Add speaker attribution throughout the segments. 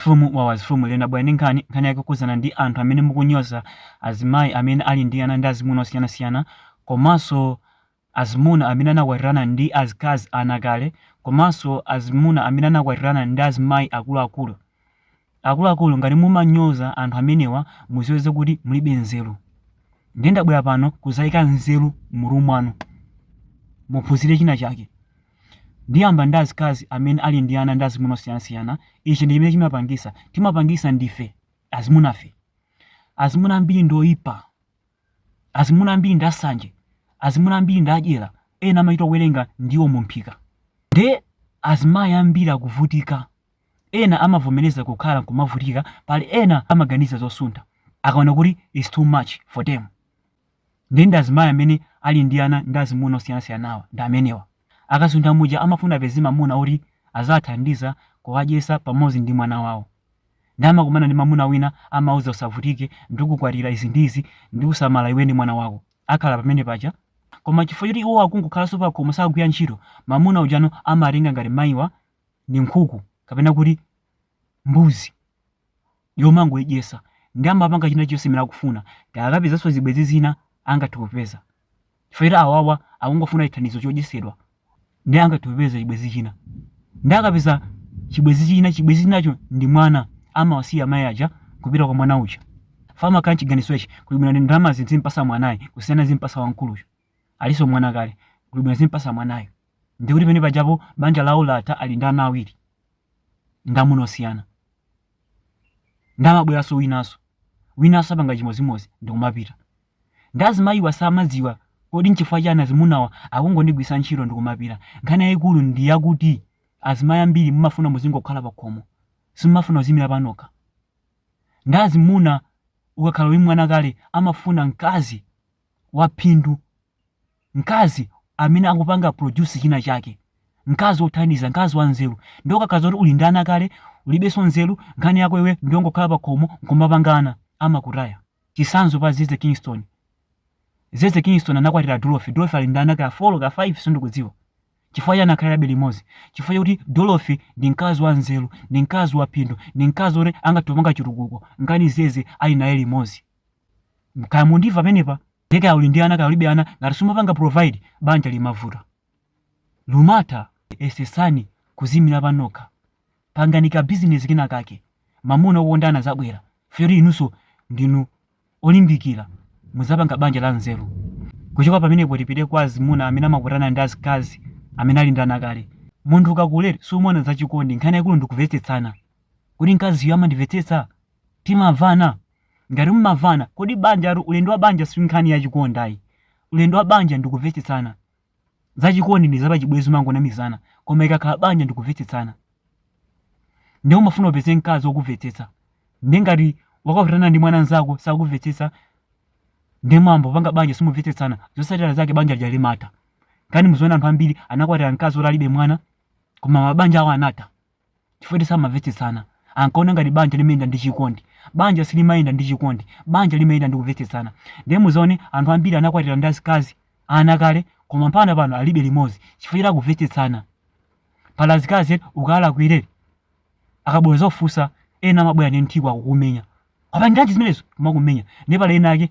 Speaker 1: From Wawa's From Lero ndabwera ndi nkhani, nkhani yake yokhudzana ndi anthu amene mukunyoza azimayi amene ali ndi ana ndi azimuna osiyanasiyana komanso azimuna amene anakwatirana ndi azikazi anakale komanso azimuna amene anakwatirana ndi azimayi akuluakulu. Akuluakulu ngati mumanyoza anthu amenewa mudziwe zakuti mulibe nzeru. Ndiye ndabwera pano kudzayika nzeru m'mutu mwanu. Muphunzire china chake. Ndiyamba ndi azikazi amene ali ndi ana ndi azimuna osiyanasiyana, ichi ndi chimene chimapangisa, timapangisa ndife azimunafe. Azimuna ambiri ndi oyipa, azimuna ambiri ndi asanje, azimuna ambiri ndi adyera, ena amachita kuwerenga ndiwo mu mphika. Nde azimayi ambiri akuvutika, ena amavomereza kukhala nkumavutika, pali ena amaganiza zosuntha akaona kuti its too much for them. Ndiye ndi azimayi amene ali ndi ana ndi azimuna osiyanasiyanawa ndi amenewa. Akasuntha muja amafuna apeze mamuna woti aziwathandiza kuwadyetsa pamodzi ndi mwana wawo. Ndiye amakumana ndi mamuna wina amawauza usavutike ndikukwatira izi ndi izi ndikusamala iwe ndi mwana wako. Akhala pamene paja. Koma chifukwa choti iwowo akungokhalanso pakhomo sakugwira ntchito, mamuna ujano amatenga ngati mayiwa ndi nkhuku kapena kuti mbuzi. yomangoidyetsa nde amapanga china chilichonse chimene akufuna kaya akapezaso zibwezi zina angathe kupeza chifukwa choti awawa akungofuna chithandizo chodyetsedwa nde angathe kupeza chibwezi china nde akapeza chibwezi china chibwezi chinacho ndi mwana amawasiya amayi aja kupita kwa mwana uja ifa amakhala mchiganizo ichi kuli bwino ndalama ndi zinthu ndizimpatsa mwanayi kusiyana ndizimpatsa wamkuluyo aliso mwana kale kuli bwino ndizimpatsa mwanayo ndikuti pamene pajapo banja lawo latha ali ndi ana awiri ndi amuna osiyana Nde amabweranso winanso. Winanso apanga chimodzimodzi ndikumapita. Nde azimayiwa samadziwa kuti nchifukwa chani azimunawa akungondigwiritsa ntchito ndikumapita. Nkhani yayikulu ndi yakuti azimayi ambiri mumafuna muzingokhala pakhomo. Simumafuna kuziyimira panokha. Nde azimuna ukakhala uli mwana kale amafuna mkazi. waphindu, mkazi amene akupanga produce china chake, mkazi wothandiza, mkazi wanzeru. Ndiye ukakhala zoti uli ndi ana kale, ulibenso nzeru, nkhani yako iwe ndiyongokhala pa khomo nkumapanga ana, amakutaya. Chitsanzo pa Zeze Kingston. Zeze Kingston anakwatira Dorothy. Dorothy ali ndi ana ka 4 ka 5 sindikudziwa. Chifukwa chani akhalirabe limodzi? Chifukwa chakuti Dorothy ndi mkazi wanzeru, ndi mkazi waphindu, ndi mkazi woti angathe kupanga chitukuko, nkana Zeze ali naye limodzi. kaya mukundimva pamenepa nde kaya uli ndi ana kaya ulibe ana ngati sumapanga provide banja limavuta limatha yesetsani kuziimira panokha pangani ka business kena kake mamuna okukondani azabwera foti inunso ndinu olimbikira muzapanga banja la nzeru kuchoka pamenepo tipite kwa azimuna amene amakutana ndi azikazi amene ali ndi ana kale munthu ukakula sumona zachikondi nkhani yakulu ndi kuvetsetsana kuti mkaziyo amandimvetsetsa timamvana Ngati mumavana, kodi banjatu, ulendo wa banja si nkhani ya chikondi ayi. Ulendo wa banja ndi kumvetsetsana. Za chikondi ndi za pachibwenzi umangonamizana, koma ikakhala banja ndi kumvetsetsana. Ndiye umafuna upeze mkazi wokumvetsetsa. Ndiye ngati wakwatirana ndi mwana mnzako sakumvetsetsa, ndiye mwangopanga banja simumvetsetsana, zotsatira zake banja lija limatha. Kani muziona anthu ambiri anakwatira mkazi woti alibe mwana, koma mabanja awo anatha. chifukwa choti samamvetsetsana. Ankaona ngati banja limayenda ndi chikondi. Banja silimayenda ndi chikondi. Banja limayenda ndi kumvetsetsana. Ndiye muzaone anthu ambiri anakwatirana ndi azikazi, ana kale, koma mpaka pano alibe limodzi chifukwa choti akumvetsetsana. Pali azikazi eti ukawalakwire amabwera nzofunsa ena amabwera ndi nthiko akukumenya. Wapangiranji zimenezo? Kumakumenya. Ndiye pali ena ake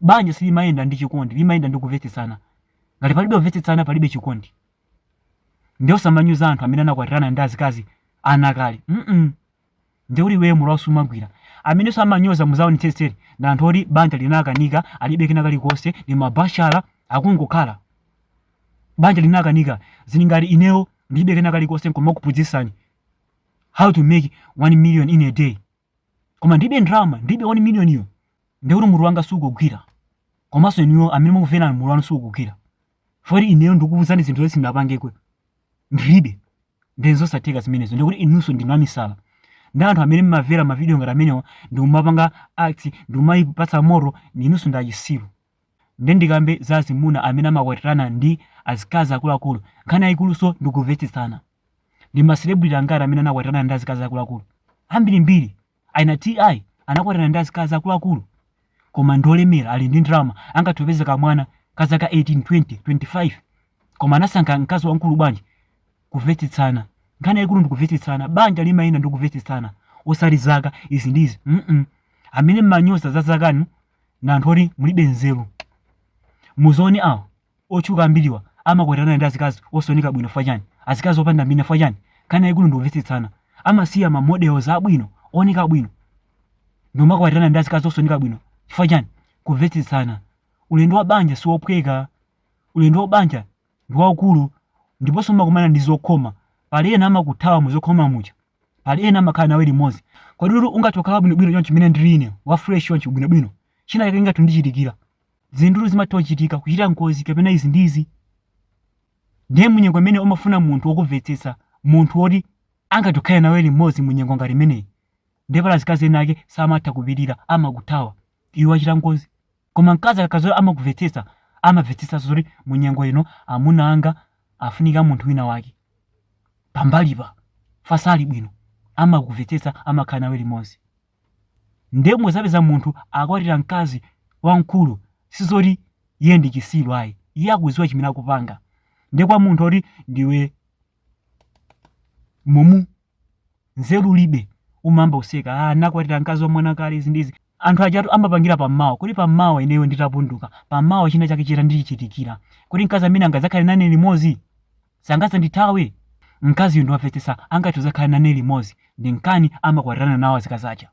Speaker 1: Banja silimayenda ndi chikondi, limayenda ndi kuvetsetsana. Ngati palibe kuvetsetsana, palibe chikondi. Nde uzimanyoza anthu amene anakwatirana ndi azikazi ana kale. Mm nde kuti iweyo mutuwo sumagwira. Amenenso amanyoza muzaonetsetsere ndi anthu oti banja linakanika, alibe kena kalikonse, ndi mabashala akungokhala. Banja linakanika, zili ngati ineyo ndilibe kena kalikonse nkumakuphunzitsani how to make 1 million in a day. koma ndibe ndalama ndibe 1 miliyoniyo ndiye kuti mutu wanga sukugwira komanso inuyo amene mukumveranu mutu wanu sukugwira foti ineyo ndikukuuzani zinthu zoti sindinapangeko ndilibe ndiye zosatheka zimenezo ndiye kuti inunso ndinu amisala ndiye anthu amene mmavera mavidiyo ngati amenewa ndikumapanga act ndikumayipatsa moto inunso ndi achisiru Nde ndikambe za azimuna amene amakwatirana ndi azikazi akuluakulu, nkhani yayikuluso ndi kuvetsetsana. Ndi ma celebrity angati amene anakwatirana ndi azikazi akuluakulu? Ambirimbiri. Ana TI anakwatirana ndi azikazi akuluakulu. Koma ndi olemera, ali ndi ndalama, angathe kupeza kamwana ka zaka 18, 20, 25. Koma anasankha mkazi wamkulu bwanji? Kuvetsetsana. Nkhani yayikulu ndi kuvetsetsana. Banja limayenda ndi kuvetsetsana. Osati zaka, izi ndi izi. mm Amene mmanyoza za zakanu, ndi anthu oti mulibe nzeru muzione awo otchuka ambiriwa amakwatirana ndi azikazi osaoneka bwino fwa chani azikazi opanda mbina fwa chani nkhani yayikulu ndi kumvetsetsana amasiya ma models abwino ooneka bwino nkumakwatirana ndi azikazi osaoneka bwino chifukwa chani kumvetsetsana ulendo wa banja si wophweka ulendo wa banja ndi waukulu ndiponso umakumana ndi zokhoma pali ena amakuthawa mu zokhoma muja pali ena amakhala nawe limodzi kodi ukuti ungathe kukhala bwinobwino chonchi mmene ndili ine wa fresh chonchi bwinobwino china chake ngati chandichitikira zinthu zimatha kuchitika kuchita ngozi kapena izi ndi izi ndiye munyengo imene umafuna munthu wokumvetsetsa munthu woti angathe kukhala nawe limodzi munyengo ngati imeneyi ndiye pali azikazi ena ake samatha kupirira amakuthawa iwe wachita ngozi Koma mkazi akakhala zoti amakuvetsetsa, amavetsetsanso zoti mu nyengo ino amuna anga afunika munthu wina wake pambali pawo sali bwino, amakuvetsetsa, amakhala nawe limodzi. Ndiye muzapeza munthu akwatira mkazi wamkulu, si zoti iye ndi chisiru ayi, iye akudziwa chimene akupanga. Ndiye kwa munthu oti ndiwe mumu nzeru ulibe umayamba kuseka ah wakwatira mkazi wa mwana kale izi ndi izi anthu ajatu amapangira pammawa kuti pammawa ineyo nditapunduka pammawa china chake chitandichitikira kuti mkazi amene angadzakhale nane limodzi sangadzandithawe mkazi wondimvetsetsa angathe kudzakhala nane limodzi ndi nkhani amakwatirana nawo azikazi aja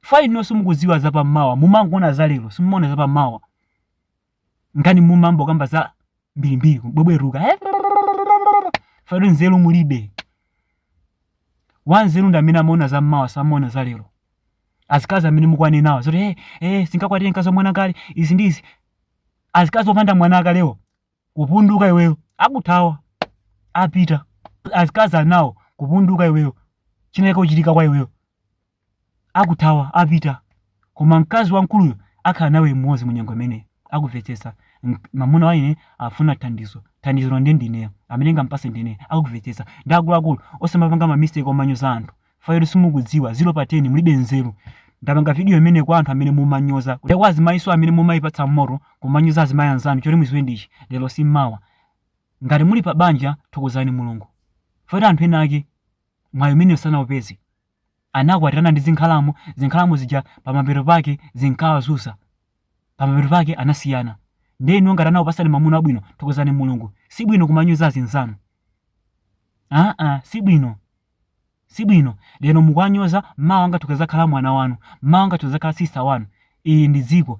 Speaker 1: koma inuyo mukudziwa zapammawa mumangoona zalero simumaona zapammawa nkhani mumangokamba za mbirimbiri kubwebwetuka eh? fado nzeru mulibe wanzeru ndi amene amaona za mmawa samaona za lero azikazi amene mukuwanenawo zoti eh, eh, sindingakwatire mkazi wa mwana kale izi ndi izi azikazi opanda mwanakalewo kupunduka iweyo akuthawa apita azikazi enawo kupunduka iweyo china chake kuchitika kwa iweyo akuthawa, apita. Koma mkazi wamkuluyo akhala nawe limodzi mu nyengo imeneyo. Akuvetsetsa. Mk, mamuna wa ine afuna thandizo. Thandizolo ndiye ndi ineyo. Amene ndingamupatse ndi ineyo. Akuvetsetsa. Ndiye akuluakulu, osamapanga ma mistake omanyoza anthu. Fayotu simukudziwa, zero pa ten, mulibe nzeru. Ndapanga video imeneyi kwa anthu amene mumanyoza. Ndi kwa azimayinso amene mumayipatsa moto, kumanyoza azimayi anzanu. Choti mudziwe ndi ichi, lero si mawa. Ngati muli pa banja, thokozani Mulungu. Fayotu anthu ena ake, mwayi umenewu sanaupeze. Anakwatirana ndi zinkhalamba, zinkhalamba zija pamapeto pake zinkawazunza. Pamapeto pake anasiyana. Ndiye inuyo ngati anakupasani mamuna wabwino, thokozani Mulungu. Sibwino kumanyoza azinzanu. Aa, sibwino. Sibwino. Lero mukuwanyoza, mawa angathe kuzakhala mwana wanu. Mawa angathe kuzakhala sister wanu. Ili ndi dziko.